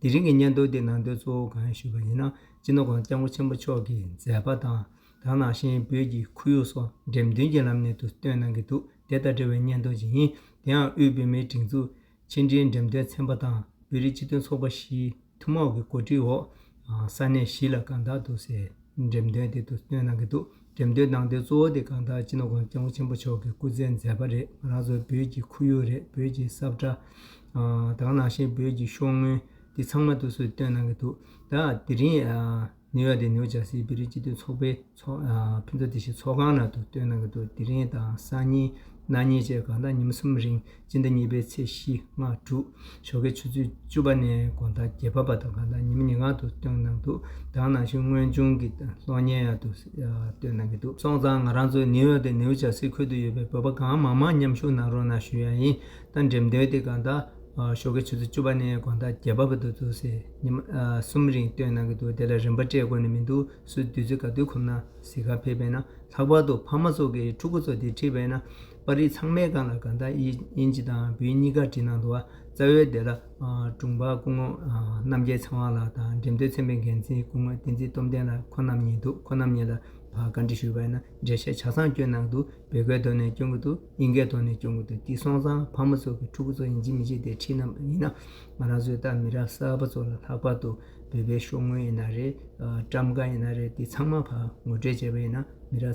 དེ་རིང་གི་སྙན་ཐོ་འདི་ནང་དོན་གཙོ་བོ་གང་ཡིན་ཞུས་པ་ཡིན་ན་སྤྱི་ནོར ྋསྐྱབས་མགོན་ཆེན་པོ་མཆོག་གི་མཛད་པ་དང་དག་ནང་བཞིན་བོད་ཀྱི་ཁོར་ཡུག་སོགས་འགྲེམས་སྟོན་གྱི་ལམ་ནས་དུ་སྟོན་གནང་གི་འདུག་དེ་དང་འབྲེལ་བའི་སྙན་ཐོ་ཞིག་ཡིན་དེ་ཡང་དབུས་བོད་མིའི་སྒྲིག་འཛུགས་ཕྱི་འབྲེལ་འགྲེམས་སྟོན་ཚན་པ་དང་བོད་རིགས་སྤྱི་མཐུན་ཚོགས་པ་བཞིའི་ཐུན་མོང་གི་གོ་སྒྲིག་འོག་ས་གནས་བཞི་ལ་གང་དག་ཏུ་གསལ། འགྲེམས་སྟོན་དེ་དུས་སྟོན་གནང་གི་འདུག་འགྲེམས་སྟོན་གནང་དོན་གཙོ་བོ་དེ་གང་དག་སྤྱི་ནོར ྋགོང་ས ྋསྐྱབས་མགོན་ཆེན་པོ་མཆོག་གི་སྐུ་ཚེའི་མཛད་པ་རེད་ང་རང་ཚོ་བོད་ཀྱི་ཁོར་ཡུག་རེད་བོད་ཀྱི་ས་བཀྲ་དང་ནང་བཞིན་བོད་ཀྱི་ཤོག་དངུལ་འདི་ཚང་མ་དུས་སུ་སྟོན་གནང་གི་འདུག་ད་དེ་རིང་ནིའུ་ཡོག་དེ་ནིའུ་ཇར་སིའི་བོད་རིགས་སྤྱི་མཐུན་ཚོགས་པའི་ཕུན་ཚོགས་སྡེ་བཞིའི་ཚོགས་ཁང་ནང་དུ་སྟོན་གནང་གི་འདུག་དེ་རིང་དང་སང་ཉིན་གནངས་ཉིན་བཅས་གང་དག་ཉིན་གསུམ་རིང་སྤྱི་ཟླ་གཉིས་པའི་ཚེས་བཞི་སྔ་དྲོ་ཞོགས་ཀའི་ཆུ་ཚོད་བཅུ་པ་ནས་དགོན་བདག་རྒྱལ་བབ་པ་དང་གང་དག་ཉི་མ་ཉིན་སྔ་དུ་བཏོན་གནང་འདུག་གདང་ནང་བཞིན་དངོས་བྱུང་གི་གློག་བརྙན་ཡང་དུ་བཏོན་གནང་གི་འདུག་སོང་ཙང་ང་རང་ཚོ་ནེའུ་ཡོག་དང་ནེའུ་ཇར་སི་ཁུལ་དུ་ཡོད་པའི་བོད་པ་གང་མང་མང་མཉམ་ཞུགས་གནང་རོགས་གནང་ཞུ་ཡ་ཡིན་ད་འགྲེམས་སྟོན་དེ་གང་དག་ཞོགས་ཀའི་ཆུ་ཚོད་བཅུ་པ་ནས་དགོན་བདག་རྒྱལ་བབ་པ་དུ་ཚོ་ཟེར་ཉི་མ་གསུམ་རིང་བཏོན་གནང་གི་འདུག་དེ་ལ་རིན་པ་སྤྲད་དགོས་ནི་མི་འདུག་སུས་བདུད་རྩི་ག་དུས་ཁོམ་ན་ཟིག་ག་ཕེབས་པས་ན་ལྷག་པར་དུ་ཕ་མ་ཚོ་གིས་ཕྲུ་གུ་ཚོ་དེ་ཁྲིད་པས་ན། པར་རིས་ཚང་མའི་སྒང་ལ་གང་དག་དབྱིན་ཇི་དང་བོད་གཉིས་ཀར་བྲིས་གནང་འདུག་རྩ་བའི་བདེ་བླག་དྲུང་འཕར་སྐུ་ངོ་རྣམ་རྒྱལ་ཚེ་དབང་ལགས་དང་འགྲེམས་སྟོན་ཚན་པའི་འགན་འཛིན་སྐུ་ངོ་བསྟན་འཛིན་སྟོབས་ལྡན་ལགས་ཁོ་རྣམ་གཉིས་འདུག་ཁོ་རྣམ་གཉིས་ལ་བཀའ་འདྲི་ཞུས་པ་ཡིན་ན་འགྲེལ་བཤད་ཆ་ཚང་བསྐྱོན་གནང་འདུག་བོད་སྐད་ཐོག་ནས་བསྐྱོན་གྱི་འདུག་དབྱིན་སྐད་ཐོག་ནས་བསྐྱོན་གྱི་འདུག་དེ་སོང་ཙང་ཕ་མ་ཚོ་གི་ཕྲུ་གུ་ཚོ་དབྱིན་ཇི་མི་ཤེས་ཏེ་ཁྲིད་ནམ་ཡིན་ན་ང་རང་ཚོའི་ལྟ་མི་ར་གསར་པ་ཚོ་ལ་ལྷག་པར་དུ་བོད་པའི་ཤོག་དངུལ་ཡིན་ན་རེད་བཀྲམ་ཁ་ཡིན་ན་རེད་དེ་ཚང་མ་ཕར་ངོ་སྤྲོད་བྱས་པ་ཡིན་ན་མི་ར།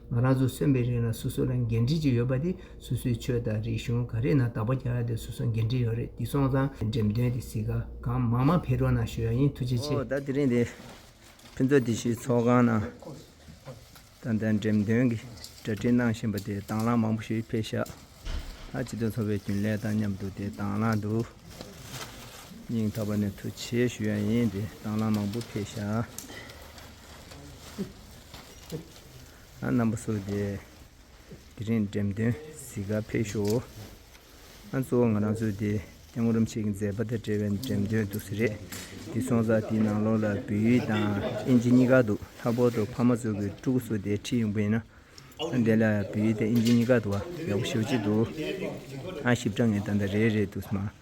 ང་རང་ཚོ་སོན་པའི་རིང་ལ་སོ་སོ་ལ་འགན་འཁྲི་གཅིག་ཡོད་པ་དེ་སོ་སོའི་ཆོས་དང་རིག་གཞུང་ག་རེ་ན་དག་པ་རྒྱག་ཡ་དེ་སོ་སོ་འགན་འཁྲི་ཡོད་རེད་འདི་སོང་ཙང་འགྲེམས་སྟོན་དེ་སི་ག་གང་མང་མང་འཕེལ་རོགས་གནང་ཞུ་ཡ་ཡིན་ཐུགས་རྗེ་ཆེ། ད་དེ་རིང་འདི་ཕུན་ཚོགས་སྡེ་བཞིའི་ཚོགས་ཁང་ནང་ད་ལྟ་འགྲེམས་སྟོན་གྱི་གྲ་སྒྲིག་གནང་བཞིན་པ་དེ་དྭང་བླངས་མང་པོ་ཞིག་འཕེལ་ཤག་ལ་སྤྱི་དོན་ཚོགས་པའི་རྒྱུན་ལས་དང་མཉམ་དུ་དེ་དྭང་བླངས་འདུག་སྙིང་ཐག་པ་ནས་ཐུགས་ཆེ་ཞུ་ཡ་ཡིན་དེ་དྭང་བླངས་མང་པོ་འཕེལ་ཤག། རྣམ་པ་སོགས་ཏེ། དེ་རིང་འགྲེམས་སྟོན་གཟིགས་སྐར་འཕེལ་ཤོག་འོ། གཙོ་བོ་ང་རང་ཚོས་དེ་སྟེང་ངོ་རུམ་ཆེ་གི་མཛད་པ་དང་འབྲེལ་བའི་འགྲེམས་སྟོན་འདུག་ས་རེད། དེ་སོང་ཙང་དེའི་ནང་ལོགས་ལ་བོད་ཡིག་དང་དབྱིན་ཇི་གཉིས་ཀ་འདུག་ལྷག་པོར་དུ་ཕ་མ་ཚོ་གི་ཕྲུ་གུ་ཚོ་དེའི་ཁྲིད་ཡོང་གི་ཡིན་ན། དེ་ལ་བོད་ཡིག་དང་དབྱིན་ཇི་གཉིས་ཀ་འདུག་ཡག་པོ་ཤོག་ཅིག་འདུག། ཞིབ་ཕྲ་ངས་ད་ལྟ་རེད་རེད་འདུག་སྨྲ།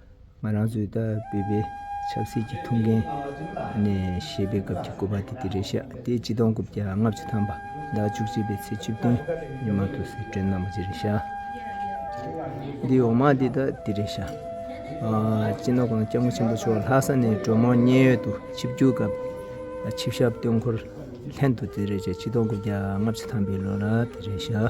ང་རང་ཚོའི་ད་བོད་པའི་ཆབ་སྲིད་ཀྱི་ཐུགས་འགན་ནས་བཤད་པའི་སྐབས་ཀྱི་བཀོད་པ་དེ་དེ་རེད་ཤག་དེ་སྤྱི་སྟོང་དགུ་བརྒྱ་ལྔ་བཅུ་ཐམ་པ་ཟླ་བཅུ་གཅིག་པའི་ཚེས་བཅུ་བདུན་ཉི་མ་དུ་སི་ཀྲོན་གནང་བ་དེ་རེད་ཤག་འདིའི་འོག་མ་དེ་ད་དེ་རེད་ཤག་སྤྱི་ནོར་ཁང་སྐྱ་དམག་ཆེན་པོ་མཆོག་ལྷ་ས་ནས་གྲོས་མོལ་མཉན་ཡོད་དུ་ཆིབས་རྒྱུག་སྐབས་ཆིབས་ཞབས་སྟོན་འཁོར་ལྷན་དུ་དེ་རེད་ཤག་སྤྱི་སྟོང་དགུ་བརྒྱ་ལྔ་བཅུ་ཐམ་པའི་ལོ་ལ་དེ་རེད་ཤག།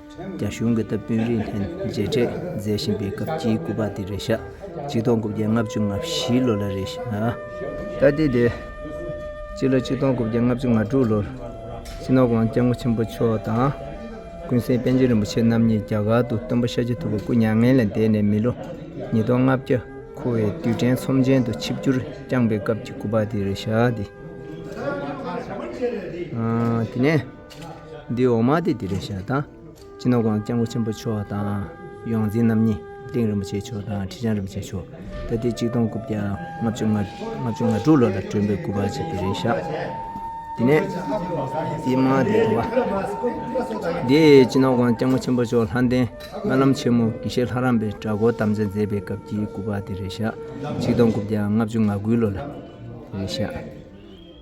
རྒྱ་གཞུང་གི་སྟབས་བསྟུན་རིན་ཐན་མཇལ་འཕྲད་མཛད་བཞིན་པའི་སྐབས་ཀྱི་སྐུ་པར་དེ་རེད་ཤག་གཅིག་སྟོང་དགུ་བརྒྱ་ལྔ་བཅུ་ང་བཞི་ལོ་ལ་རེད་ཤག་ད་དེ་དེ། སྤྱི་ལོ་གཅིག་སྟོང་དགུ་བརྒྱ་ལྔ་བཅུ་ང་དྲུག་ལོར་སྤྱི་ནོར་ཝང་སྐྱབས་མགོན་ཆེན་པོ་མཆོག་དང། ཀུན་གསལ་པཎ་ཆེན་རིན་པོ་ཆེ་རྣམ་གཉིས་རྒྱ་གར་དུ་སྟོན་པ་ཤཱཀྱ་ཐུབ་པ་སྐུ་མྱ་ངན་ལས་འདས་ནས་མི་ལོ་ཉིས་སྟོང་ལྔ་བརྒྱ་འཁོར་བའི་དུས་དྲན་ཚོམས་ཆེན་དུ་ཆིབས་བསྒྱུར་བསྐྱངས་པའི་སྐབས་ཀྱི་སྐུ་པར་དེ་རེད་ཤག་དེ། འདི་འོག་མ་སྟེ་འདི་རེ་ཞག་དང། སྤྱི་ནོར་སྒང་སྐྱབས་མགོན་ཆེན་པོ་མཆོག་དང། ཡོངས་འཛིན་རྣམ་གཉིས་གླིང་རིན་པོ་ཆེ་མཆོག་དང་ཁྲི་བྱང་རིན་པོ་ཆེ་མཆོག་ད་ལྟའི་གཅིག་སྟོང་དགུ་བརྒྱ་ལྔ་བཅུ་ང་བཅུ་ང་དྲུག་ལོ་ལ་སྒྲོན་མེ་དགུ་པ་བྱས་པའི་རེ་ཞག། དེ་ནས་དེའི་མ་དེ་དང་པ། འདི་སྤྱི་ནོར་སྒང་སྐྱབས་མགོན་ཆེན་པོ་མཆོག་ལྷ་ལྡན་སྨོན་ལམ་ཆེན་མོ་དགེ་བཤེས་ལྷ་རམས་པའི་གྲྭ་སྐོར་དམ་བཅའ་མཛད་པའི་སྐབས་ཀྱི་དགུ་པ་དེ་རེ་ཞག་གཅིག་སྟོང་དགུ་བརྒྱ་ང་བཅུ་ང་དགུའི་ལོ་ལ་རེ་ཞག།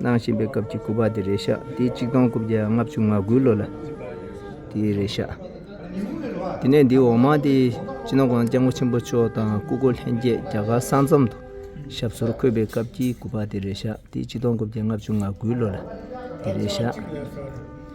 གནང་བཞིན་པའི་སྐབས་ཀྱི་སྐུ་པར་དེ་རེད་ཤག་དེ་གཅིག་སྟོང་དགུ་བརྒྱ་ལྔ་བཅུ་ང་དགུའི་ལོ་ལ་དེ་རེད་ཤག་དེ་ནས་འདིའི་འོག་མ་དེ་སྤྱི་ནོར ྋསྐྱབས་མགོན་ཆེན་པོ་མཆོག་དང་སྐུ་སྒོ་ལྷན་རྒྱས་རྒྱ་གར་ས་མཚམས་དུ་ཞབས་སོར་འཁོད་པའི་སྐབས་ཀྱི་སྐུ་པར་དེ་རེད་ཤག་དེ་གཅིག་སྟོང་དགུ་བརྒྱ་ལྔ་བཅུ་ང་དགུའི་ལོ་ལ་དེ་རེད་ཤག།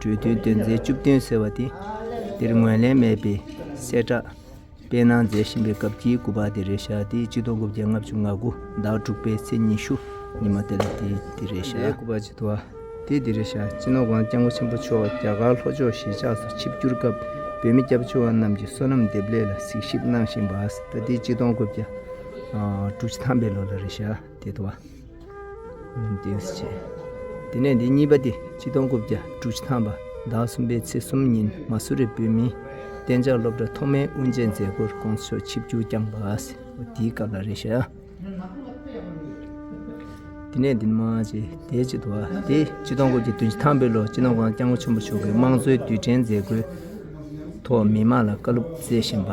གྲོས་མཐུན་དེ་མཛད་བཅུ་བདུན་ཟེར་བ་དེ་འདིར་ངོས་ལེན་མེད་པའི་གསལ་བསྒྲགས་སྤེལ་གནང་མཛད་བཞིན་པའི་སྐབས་ཀྱི་དགུ་པ་དེ་རེད་ཞག་དེའི་སྤྱི་སྟོང་དགུ་བརྒྱ་ལྔ་བཅུ་ང་དགུ་ཟླ་དྲུག་པའི་ཚེས་ཉི་ཤུ་ཉི་མ་དེ་ལ་དེ་དེ་རེད་ཞག། དེའི་དགུ་པ་སྤྱི་ཐོ་དེ་དེ་རེད་ཞག་སྤྱི་ནོར་ཝང་སྐྱབས་མགོན་ཆེན་པོ་མཆོག་རྒྱ་གར་ལྷོ་ཕྱོགས་གཞིས་ཆགས་སུ་ཆིབས་བསྒྱུར་སྐབས་བོད་མི་སྐྱབས་བཅོལ་བ་རྣམས་ཀྱི་བསོད་ནམས་འདེབས་ལས་ལ་གཟིགས་ཞིབ་གནང་བཞིན་པ་ཟླ་དེའི་སྤྱི་སྟོང་དགུ་བརྒྱ་དྲུག་ཅུ་ཐམ་པའི་ལོ་ལ་རེད་ཞག། དེ་དུ་བ། མིང་དེ་ཡོད་སྲིད་བྱས། དེ་ནས་དེ་གཉིས་པ་སྟེ་སྤྱི་སྟོང་དགུ་བརྒྱ་དྲུག་ཅུ་ཐམ་པ་ཟླ་གསུམ་པའི་ཚེས་གསུམ་ཉིན་མ་སུ་རི་བོད་མིའི་གཏན་འཇགས་སློབ་གྲྭ་ཐོག་མའི་དབུ་འབྱེད་མཛད་སྒོར་དགོངས་མཆོག་ཆིབས་བསྒྱུར་བསྐྱངས་པ། དེའི་སྐབས་ལ་རེ་ཞིག། དེ་ནས་དེ་མ་ཕྱི་དེའི་སྤྱི་དུ་བ་སྟེ་སྤྱི་སྟོང་དགུ་བརྒྱ་དོན་བཞི་ཐམ་པའི་ལོར་སྤྱི་ནོར་ཝང་སྐྱབས་མགོན་ཆེན་པོ་མཆོག་གིས་དམངས་གཙོའི་དུས་དྲན་མཛད་སྒོའི་ཐོག་མི་མང་ལ་བཀའ་སློབ་སྩལ་བཞིན་པ།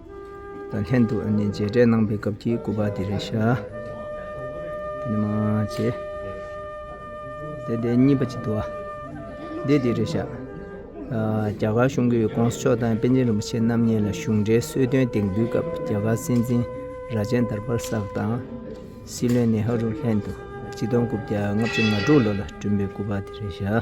དང་ལྷན་དུ་མཇལ་འཕྲད་གནང་པའི་སྐབས་ཀྱི་སྐུ་པར་དེ་རེད་ཤག། དེ་ནས་མ་བྱེད། དེ་དེ་གཉིས་པ་ཅིག་འདུག་ཨ། དེ་དེ་རེད་ཤག། རྒྱ་གར་གཞུང་གིས ྋགོང་ས་མཆོག་དང་པཎ་ཆེན་རིན་པོ་ཆེ་རྣམ་གཉིས་ལ་གཞུང་འབྲེལ་གསོལ་སྟོན་དེང་དུས་སྐབས་རྒྱ་གར་སྲིད་འཛིན་རྭ་ཅན་དར་པར་སག་དང། སྲིད་བློན་ནེ་ཧ་རུ་ལྷན་དུ་སྤྱི་སྟོང་དགུ་བརྒྱ་ལྔ་བཅུ་ང་དྲུག་ལོ་ལ་བསྐྲུན་པའི་སྐུ་པར་དེ་རེད་ཤག།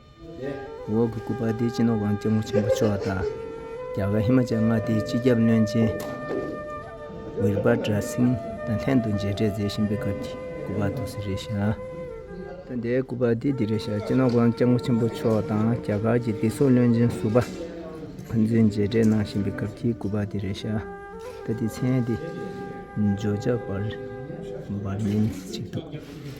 འོག་གི་སྐུ་པར་དེའི་སྤྱི་ནོར་ཝང་སྐྱབས་མགོ་ཆེན་པོ་མཆོག་དང། རྒྱ་གར་ཧི་མ་ཅལ་མངའ་སྡེའི་སྤྱི་ཁྱབ་བློན་ཆེན Virbhadra Singh དང་ལྷན་དུ་མཇལ་འཕྲད་མཛད་བཞིན་པའི་སྐབས་ཀྱི་སྐུ་པར་དུ་སི་རེ་ཤཱ། ཐོན་དེའི་སྐུ་པར་དེ་དི་རེ་ཤཱ་སྤྱི་ནོར་ཝང་སྐྱབས་མགོ་ཆེན་པོ་མཆོག་དང་རྒྱ་གར་གྱི་སྡེ་སྲོག་བློན་ཆེན Subha Anjay མཇལ་འཕྲད་གནང་བཞིན་པའི་སྐབས་ཀྱི་སྐུ་པར་དི་རེ་ཤཱ། ད་ལྟའི་མཚན་དེ Georgia Burmese ཞེས་འདོགས།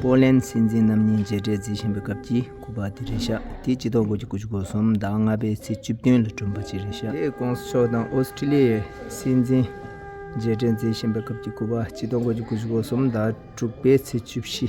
པོ་ལན་སྲིད་འཛིན་རྣམ་གཉིས་མཇལ་འཕྲད་རྩིས་བཞིན་པའི་སྐབས་ཀྱི་སྐུ་པར་དེ་རེད་ཤག་དེ་སྤྱི་ལྡོག་སྒོ་ཀྱི་སྐུ་ཆུ་སྒོ་གསུམ་ཟླ་ལྔ་པའི་ཚེས་བཅུ་བདུན་ལ་བསྐྲུན་པ་ཅིག་རེད་ཤག་དེ་ཀོང་སི་མཆོག་དང་ཨོ་སི་ཀྲི་ལི་ཡའི་སྲིད་འཛིན་མཇལ་འཕྲད་རྩིས་བཞིན་པའི་སྐབས་ཀྱི་སྐུ་པར་སྤྱི་ལྡོག་སྒོ་ཀྱི་སྐུ་ཆུ་སྒོ་གསུམ་ཟླ་དྲུག་པའི་ཚེས་བཅུ་བཞི་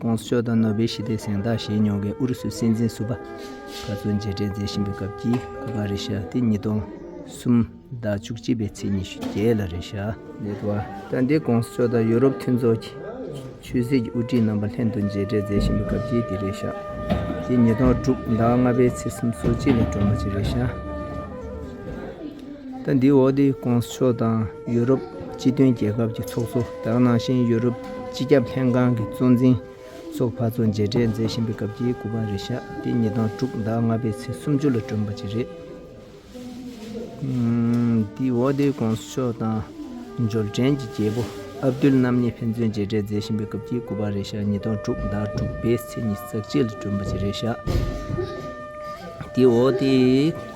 ཀོང་སོ་དང་ནོ་སྦེལ་ཞི་བདེའི་གཟེངས་རྟགས་བཞེས་མྱོང་བའི་ཨུ་རུ་སུའི་སྲིད་འཛིན་སུ་བྷ་ཁ་ཚོ་མཇལ་འཕྲད་མཛད་བཞིན་པའི་སྐབས་ཀྱི་སྐུ་པར་རེ་ཞྭ་སྟེ་ཉིས་སྟོང་གསུམ་ཟླ་བཅུ་གཅིག་པའི་ཚེས་ཉི་ཤུ་བརྒྱད་ལ་རེ་ཞྭ་ནས་དུ་བ་སྟ་འདེ་ཀོང་སོ་དང་ཡུ་རོབ་མཐུན་ཚོགས་ཀྱི་ཆོས་སྲིད་ཀྱི་དབུ་ཁྲིད་རྣམ་པ་ལྷན་དུ་མཇལ་འཕྲད་མཛད་བཞིན་པའི་སྐབས་ཀྱི་དེ་རེ་ཞྭ་སྟེ་ཉིས་སྟོང་དྲུག་ཟླ་ལྔ་པའི་ཚེས་སུམ་སོ་གཅིག་ལ་སྒྲོལ་མ་ཆེ་རེ་ཞྭ། ཟླ་འདིའི་འོག་ཏེ་ཀོང་སི་ཕྱོགས་དང་ཡུ་རོབ་སྤྱི་མཐུན་རྒྱལ་ཁབ་ཀྱི་ཚོགས་གཙོ་དག་ནང་བཞིན་ཡུ་རོབ་སྤྱི་ཁྱབ་ལྷན་ཁང་གི་གཙོ་འཛིན་སོགས་བར་གཙོ་མཇལ་འཕྲད་མཛད་བཞིན་པའི་སྐབས་ཀྱི་དགུ་པ་རེ་ཞག་སྟེ་ཉིས་སྟོང་དྲུག་ཟླ་ལྔ་པའི་ཚེས་སུམ་ཅུ་ལ་བསྒྲོན་པ་བཅས་རེད། འདིའི་འོག་ཏེ་ཀོང་སི་ཕྱོགས་དང་འབྱོར་འབྲིང་གི་རྒྱལ་པོ་ཨབ་དུལ་རྣམ་གཉིས་ཕན་ཚུན་མཇལ་འཕྲད་མཛད་བཞིན་པའི་སྐབས་ཀྱི་དགུ་པ་རེ་ཞག་ཉིས་སྟོང་དྲུག་ཟླ་དྲུག་པའི་ཚེས་ཉིས་བརྩེགས་བཅས་ལ་བསྒྲོན་པ་བཅས་རེ་ཞག་སྟེ་འདིའི་འོག་ཏེ།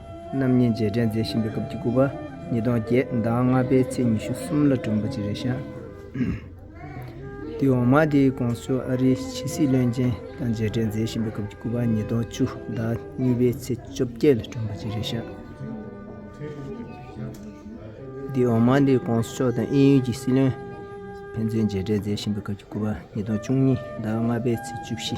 རྣམ་གཉིས་རྗེས་དྲན་མཛད་བཞིན་པའི་སྐབས་ཀྱི་སྐུ་པར་ཉིས་སྟོང་བརྒྱད་ཟླ་ལྔ་པའི་ཚེས་ཉི་ཤུ་གསུམ་ལ་བསྐྲུན་པ་ཅི་རེད་ཤག། དུས་འོག་མ་དེའི་ཀོང་སོའི་ཨ་རིའི་ཕྱི་སྲིད་བློན་ཆེན་དང་མཇལ་འཕྲད་མཛད་བཞིན་པའི་སྐབས་ཀྱི་སྐུ་པར་ཉིས་སྟོང་བཅུ་ཟླ་གཉིས་པའི་ཚེས་བཅོ་བརྒྱད་ལ་བསྐྲུན་པ་ཅི་རེད་ཤག། དུས་འོག་མ་དེའི་ཀོང་སོ་མཆོག་དང་དབྱིན་ཡུལ་གྱི་སྲིད་བློན་ཕན་ཚུན་མཇལ་འཕྲད་མཛད་བཞིན་པའི་སྐབས་ཀྱི་སྐུ་པར་ཉིས་སྟོང་བཅུ་གཉིས་ཟླ་ལྔ་པའི་ཚེས་བཅུ་བཞི།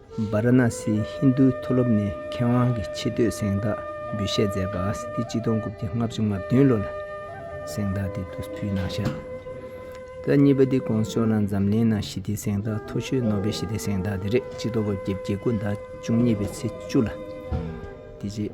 བཱ་ར་ན་སི་ཧིན་རྡུའི་མཐོ་སློབ་ནས་མཁས་དབང་གི་ཆེ་བསྟོད་གཟེངས་རྟགས་འབུལ་བཞེས་མཛད་པ་ཨ་སི་ཐི་སྤྱི་སྟོང་དགུ་བརྒྱ་ལྔ་བཅུ་ང་བདུན་ལོ་ལ་གཟེངས་རྟགས་འདི་བསྡུ་ཕུལ་གནང་ཞབས་ད་གཉིས་པ་འདི་གོང་ཤོག་ལ་འཛམ་གླིང་ནང་ཞི་བདེའི་གཟེངས་རྟགས་མཐོ་ཤོས་ནོ་བེལ་ཞི་བདེ་གཟེངས་རྟགས་འདི་རེད་སྤྱི་སྟོང་དགུ་བརྒྱ་བརྒྱད་དགུ་ཟླ་བཅུ་གཉིས་པའི་ཚེས་བཅུ་ལ་དེ་རྗེས།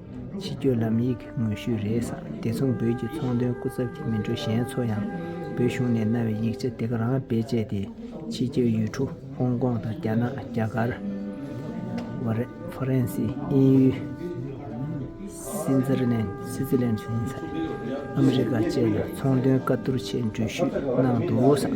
ཕྱི་སྐྱོད་ལམ་ཡིག་གི་ངོས་བཤུས་རེད་བསམ་དེ་མཚུངས་བོད་ཀྱི་ཚོང་དོན་སྐུ་ཚབ་ཀྱི་མི་འགྲོ་གཞན་ཚོ་ཡང་བོད་གཞུང་ནས་གནང་བའི་ཡིག་ཆ་དེ་ག་རང་བེད་སྤྱད་དེ་ཕྱི་སྐྱོད་ཡུལ་གྲུ་ཧོང་ཀོང་དང་རྒྱ་ནག་རྒྱ་གར། ཧྥ་རན་སི་དབྱིན་ཡུལ། སི་ཛི་རི་ལན་སི་ཛི་ལན་ཟིན་ཚ་ཨ་མི་རི་ཀ་བཅས་ལ་ཚོང་དོན་བཀའ་བསྡུར་ཆེད་འགྲུལ་བཞུད་གནང་འདུག་བསམ།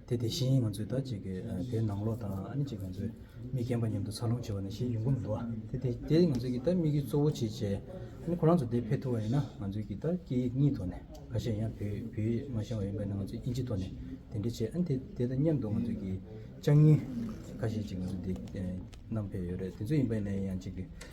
དེ་དེ་བཞིན་ང་ཚོས་ད་ཅིག་དེ་ནང་ལོགས་དང་ཨ་ནི་ཅིག་ང་ཚོས་མིག་གྱེན་པ་མཉམ་དུ་འཚར་ལོངས་བྱེད་པ་ནི་ཤེས་ཡོན་གུམ་འདུག་ཨ་དེ་དེ་དེ་ང་ཚོས་ཀྱི་ད་དམིགས་ཡུལ་གཙོ་བོ་ཆེ་ཆེ་ཨ་ནི་ཁོ་རང་ཚོ་དེ་ཕེབས་ཐུབ་པ་ཡིན་ན་ང་ཚོས་ཀྱི་ད་སྐད་ཡིག་གཉིས་ཐོག་ནས་ཁ་ཤས་ཡང་བོད་བོད་མ་བཤད་པ་ཡིན་པས་ན་ང་ཚོས་དབྱིན་ཇི་ཐོག་ནས་དེ་འདྲ་བྱེད་ཨ་ནི་དེ་དེ་དང་མཉམ་དུ་ང་ཚོས་ཀྱི་ལྕགས་རྙི་ཁ་ཤས་ཅིག་ང་ཚོས་དེ་བསྣམས་ཕེབས་ཡོད་རེད་དེ་ཚོ་ཡིན་པས་ན་ཡང་ཅིག་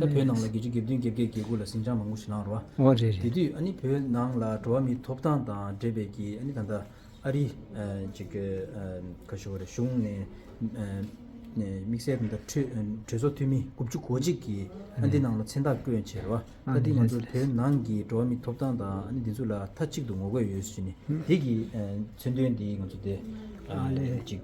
ད་བོད་ནང་ལ་རྒྱལ་སྤྱི་སྒེར་བདུན་བརྒྱད་བརྒྱད་བརྒྱད་དགུ་ལ་ཟིང་ཆ་མང་པོ་ཞིག་ལངས་རོགས། འོ་རེད་རེད། དེ་དུས་ཨ་ནི་བོད་ནང་ལ་འགྲོ་བ་མིའི་ཐོབ་ཐང་དང་འབྲེལ་བའི་གི་ཨ་ནི་ད་ལྟ་ཨ་རི་ཅིག་གི་ཁ་ཞོ་བོ་རེད་གཞུང་ནས་དམིགས་བསལ་དེ་འདྲ་གྲོས་ཚོགས་འཐུས་མི་དགུ་བཅུ་གོ་གཅིག་གི་ཨ་འདི་ནང་ལ་མཚན་རྟགས་བཀོད་བྱས་རོགས་ཨ་འདི་ང་ཚོ་བོད་ནང་གི་འགྲོ་བ་མིའི་ཐོབ་ཐང་དང་ཨ་ནི་དེ་ཚོ་ལ་མཐའ་གཅིག་ཏུ་ངོ་རྒོལ་ཡོད་ཟེར་ནས་དེ་གི་མཚོན་དོན་དེ་ང་ཚོ་དེ་ཅིག།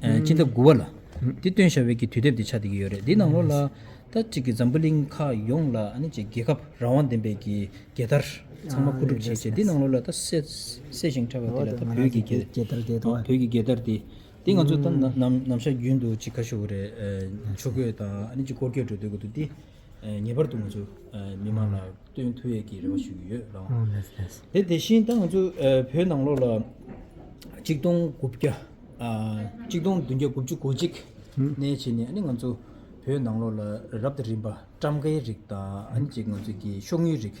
སྤྱིན་ཐབ་དགུ་བ་ལ། འདི་སྟོན་བྱ་བའི་ཀྱི་དུས་དེབ་དེ་ཆ་དེ་གི་ཡོད་རེད་འདི་ནང་ལོགས་ལ། ད་གཅིག་གི་འཛམ་བུ་གླིང་ཁག་ཡོངས་ལ་ནི་ཅེས་རྒྱལ་ཁབ་རང་དབང་ལྡན་པའི་ཀྱི་རྒྱལ་དར་ཚང་མ་ཁུ་སྒྲུབ་བྱེད་ཅེས་འདི་ནང་ལོགས་ལ་ད་སད་ཞིང་ཁྲ་བ་དེ་ལ་ད་བོད་ཀྱི་རྒྱལ་རྒྱལ་དར་དེ་དང། བོད་ཀྱི་རྒྱལ་དར་དེ། འདི་ང་ཚོ་ད་ནམ་ནམ་ཤར་རྒྱུན་དུ་ཅིག་ཁ་ཤོ་བོ་རེད། ཆོས་གོས་དང་ནི་ཅིག་སྐོར་སྐྱོད་འགྲོ་སྡོད་དགོས་འདུག་འདི། ངེས་པར་དུ་ང་ཚོ་མི་དམངས་ལ་བསྟོན་ཐུལ་གྱི་རེ་བ་ཞུ་གི་ཡོད་རང་དབང་མེད་དེ་དེ་བཞིན་ད་ང་ཚོ་བོད་ནང་ལོགས་ལ་གཅིག་སྟོང་དགུ་བརྒྱ་གཅིག་སྟོང་བདུན་བརྒྱ་དགུ་བཅུ་གོ་གཅིག་གནས་བྱས་ནས་ཨ་ནི་ང་ཚོ་བོད་ནང་ལོགས་ལ་རབ་དང་རིམ་པ་བཀྲམ་ཁའི་རིགས་དང་ཨ་ནི་ཅིག་ང་ཚོ་གི་ཤོག་དངུལ་རིགས་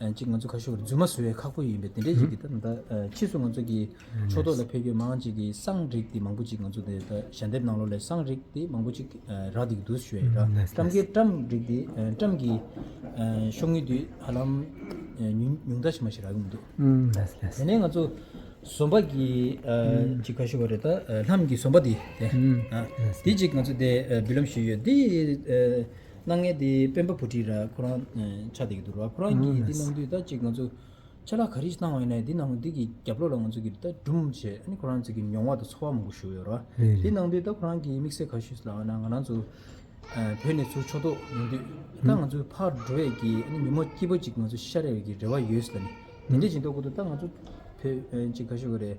གཅིག་ང་ཚོ་ཁ་ཤོར་རྫུན་མ་བཟོ་བའི་ཁག་པོ་ཡིན་པས་དེ་འདྲའི་ཞིག་གིས་ད་ཕྱིས་སུ་ང་ཚོ་གི་ཕྱོགས་གཏོགས་ལ་ཕེབས་ཡུལ་མང་ཅིག་གིས་སང་རིགས་དེ་མང་པོ་ཅིག་ང་ཚོ་དེ་ད་ཞལ་འདེབས་གནང་ལོ་ལས་སང་རིགས་དེ་མང་པོ་ཅིག་རག་འདི་གི་འདུག་ཞུ་ཡས་རག་བཀྲམ་ཀའི་བཀྲམ་རིགས་དེ་བཀྲམ་གི་ཤོག་ངོས་དེ་ཧ་ལམ་ཉུང་དྲགས་ཆེ་མ་ཞིག་རག་ཡོང་གི་འདུག་དེ་ནས་ང་ཚོ་ཟོམ་པ་གི་གཅིག་ཁ་ཤོ་བ་རེ་ད་ལྷམ་གྱི་ཟོམ་པ་དེ་དེ་གཅིག་ང་ཚོ་དེ་འབུལ་ལམ་ཞུས་ཡོད་དེ་སྣ་ལྔའི་དེ་སྤེན་པ་བུ་ཁྲིད་ར་ཁོ་རང་ཆ་དེ་གི་འདུག་ར་ཁོ་རང་གིས་འདི་གནང་དུས་ད་ཅིག་ང་ཚོ་ཆ་ལག་ག་རིས་གནང་བ་ཡིན་ན་འདི་གནང་འདི་གི་རྒྱབ་ལོག་ལ་ང་ཚོ་གི་ད་སྦྲུམ་བྱས་ཨ་ནི་ཁོ་རང་ཚོ་གི་མྱོང་བ་དང་འཚོ་བ་མང་པོ་ཞུ་ཡོད་ར་འདི་གནང་དུས་ད་ཁོ་རང་གིས་དམིགས་བསལ་ག་ཞུས་ལ་ང་རང་ཚོ་བོད་ནས་ཚུར་ཕྱོགས་ཐོག་ཡོང་དུས་ད་ང་ཚོ་ཕར་འགྲོ་བས་གི་ཨ་ནི་ཉིན་མོ་སྐྱིད་པོ་ཅིག་ང་ཚོ་ཤར་ཡོད་ཀི་རེ་བ་ཡོད་ལ་ནི་དེ་འདྲ་ཞིག་འདོག་གོ་ཐུབ་ད་ང་ཚོ་བོད་ཅིག་ག་ཞུ་གི་རེད་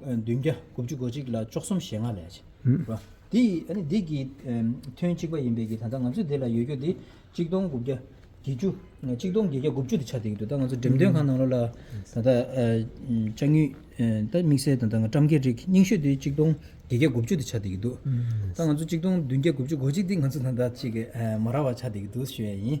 བདུན་བརྒྱ་དགུ་བཅུ་གོ་གཅིག་ལ་བཅུ་གསུམ་ཞེ་ལྔ་ལས། འདི་ཡིས་འདི་ཀྱི་དོན་གཅིག་པ་ཡིན་པས་ཀྱི་ད་ལྟ་ང་ཚོས་དེ་ལ་ཡོད་རྒྱུ་དེ་གཅིག་སྟོང་དགུ་བརྒྱ་བརྒྱད་ཅུ་གཅིག་སྟོང་བརྒྱད་བརྒྱ་དགུ་བཅུ་དེ་ཆགས་འདུག་གི་འདུག་ད་ང་ཚོ་འགྲེམས་སྟོན་ཁང་ནང་ལོ་ལ་ད་ལྟ་ལྕགས་ཉུལ་ད་དམིགས་བསལ་ད་ལྟ་ང་བཀྲམ་གྱི་རིགས་རྙིང་ཤོས་དེ་གཅིག་སྟོང་བརྒྱད་བརྒྱ་དགུ་བཅུ་དེ་ཆགས་འདུག་གི་འདུག་ད་ང་ཚོ་གཅིག་སྟོང་བདུན་བརྒྱ་དགུ་བཅུ་གོ་གཅིག་དེ་ང་ཚོ་ད་ལྟ་ཅིག་མ་རག་བ་ཆགས་འདུག་གི་འདུག་ཞུ་ཡ་ཡིན།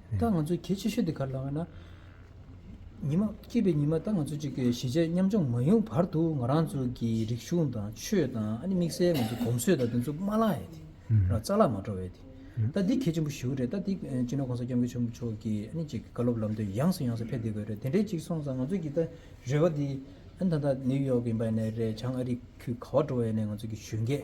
ད་ང་ཚོ་གལ་ཆེ་ཤོས་དེ་ག་རེ་ལ་ཡོད་ན། ཉི་མ་སྐྱེས་པའི་ཉི་མ་ད་ང་ཚོ་གཅིག་གི་གཞིས་བྱེས་མཉམ་སྦྱོང་མ་ཡོང་བར་དུ་ང་རང་ཚོ་གི་རིག་གཞུང་དང་ཆོས་དང་ཨ་ནི་དམིགས་བསལ་ང་ཚོ་གོམས་སྲོལ་དང་དེ་ཚོ་མ་བརླག་ཡས་དེ། རྩ་བརླག་མ་འགྲོ་བས་དེ། ད་འདི་གལ་ཆེན་པོ་ཞུ་གི་རེད་ད་འདི་སྤྱི་ནོར་གོང་ས་སྐྱབས་མགོན་ཆེན་པོ་མཆོག་གི་ཨ་ནི་གཅིག་བཀའ་སློབ་ལམ་སྟོན་ཡངས་སུ་ཡངས་སུ་ཕེབས་བསྡད་དགོས་རེད་དེ་འདྲའི་གཅིག་སོང་ཙང་ང་ཚོ་གི་ད་རེ་བ་འདི་ཨ་ནི་ད་ད་ནེའུ་ཡོག་གི་འབའ་ཡས་ནས་རེད་བྱང་ཨ་རིག་ཁུལ་ག་བ་འགྲོ་བ་ཡས་ནས་ང་ཚོ་གི་གཞོན་སྐྱེས།